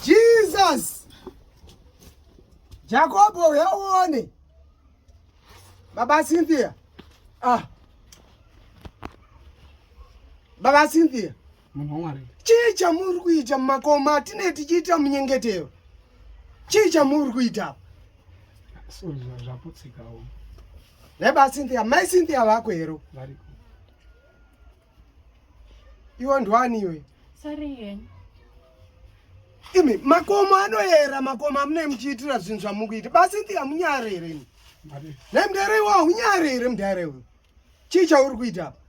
Jesus. Jakobo uyaone. Baba Cynthia. Ah. Baba Cynthia. chii chamuri kuita mumakoma atinee tichiita munyengetero chii chamuri kuita naiba cynthia mai cynthia vako hero iwe ndwani iwe imi makomo anoyera makomo amunei muchiitira zvinhu zvamukuita bacynthia munyare here ini nai mudare iwa unyare here mudare uyo chii chauri kuita apa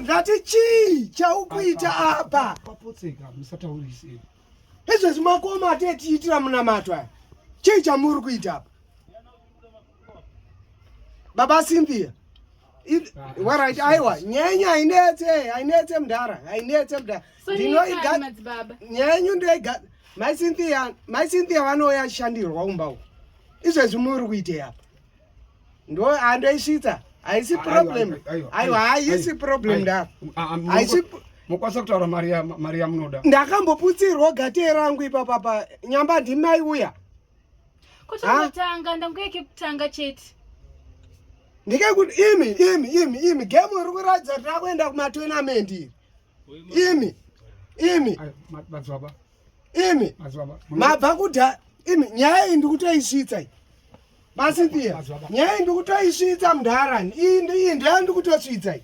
ndati chii chaukuita apa papotseka musataurise izvezvi makoma atetiitira munamato aya chii chamuri kuita apa baba cynthia warit aiwa nyenyu hainetse hainetse mudhara hainetse mudhara ndinoiga nyenyu ndoiga mai cynthia mai cynthia vanouya achishandirwa umba uku izvezvi muri kuitei apa ndo andoisvitsa haisi problem aiwa haisi problem nda haisi mokwanisa kutaura mari yamunoda ndakamboputsirwa gate rangu ipapa pa nyamba ndimai uya kutongotanga ndanguya kekutanga chete ndikekuti imi imi imi imi gemu iri kuratidza tirakuenda kumatournament iri imi imi madzibaba imi mabva kudha imi nyaya iyi ndikutoisvitsa iyi masintiya nyaya iyi ndikutoisvitsa mudharani iyi iyi ndoya ndikutosvitsa iyi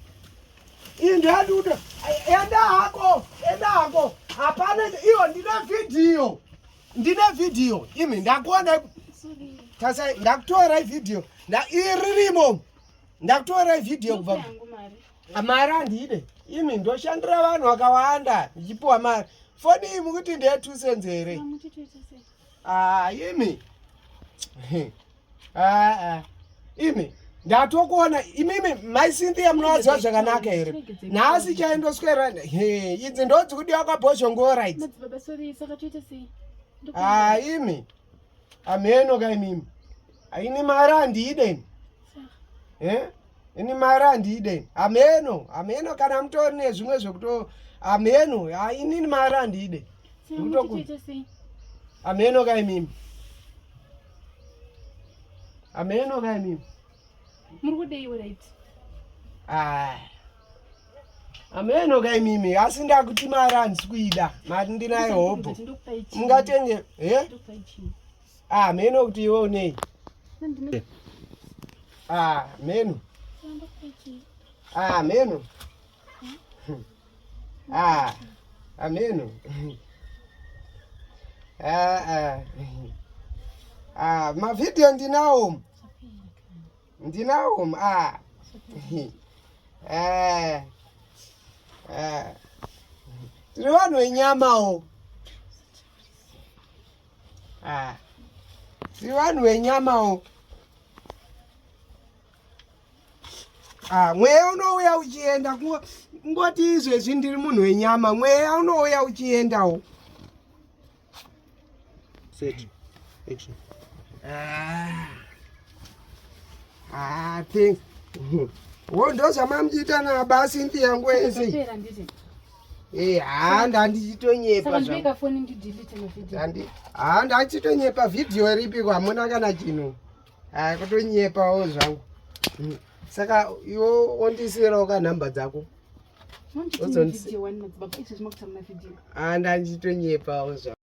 iyi ndoya ndikuto enda hako enda hako hapana iyo ndine vhidhiyo ndine vhidhiyo imi ndakuona tasa ndakutora vhidhiyo iri rimo ndakutora vhidhiyo kubva mari handide imi ndoshandira vanhu vakawanda ndichipiwa mari foni iyi mukuti ndeye two cents here ah, imi ah, ah. imi ndatokuona imimi mai cynthia munovaziva zvakanaka here nhasi chaindoswera idzi ndodzikudiwa kwabhozhongorit imi amheno ka imimi aini mari handideni eh ini mari handiide hameno hameno kana mutori nezvimwe zvekuto hameno inini mari handiide hameno ka imimi hameno ka imimi muri kudei right ah hameno ka imimi asi ndakuti mari handisi kuida mari ndinayo hobho mungatenge he eh? Ah, meno kuti iwe unei? Ah, meno. Ah, meno. Ah, ah meno. Ah, ah. Ah, ma video ndinawo. Ndinawo. Ah. Eh. Eh. Tiri vanhu venyamawo. Ah. Si vanhu venyamawo. Ah, mweya unouya uchienda kungoti izvezvi ndiri munhu wenyama. Mweya unouya uchiendawo. Set. Action. Ah. Ah, thing. Wo ndozvamamjita na basi nti yangu ese. Eh, haa ndandichitonyepa haa ndachitonyepa vhidhiyo ripi kwamuna kana chino haa kutonyepawo zvangu hmm. saka iwo ondisirawo ka nhamba dzako haa ndandichitonyepawo zvangu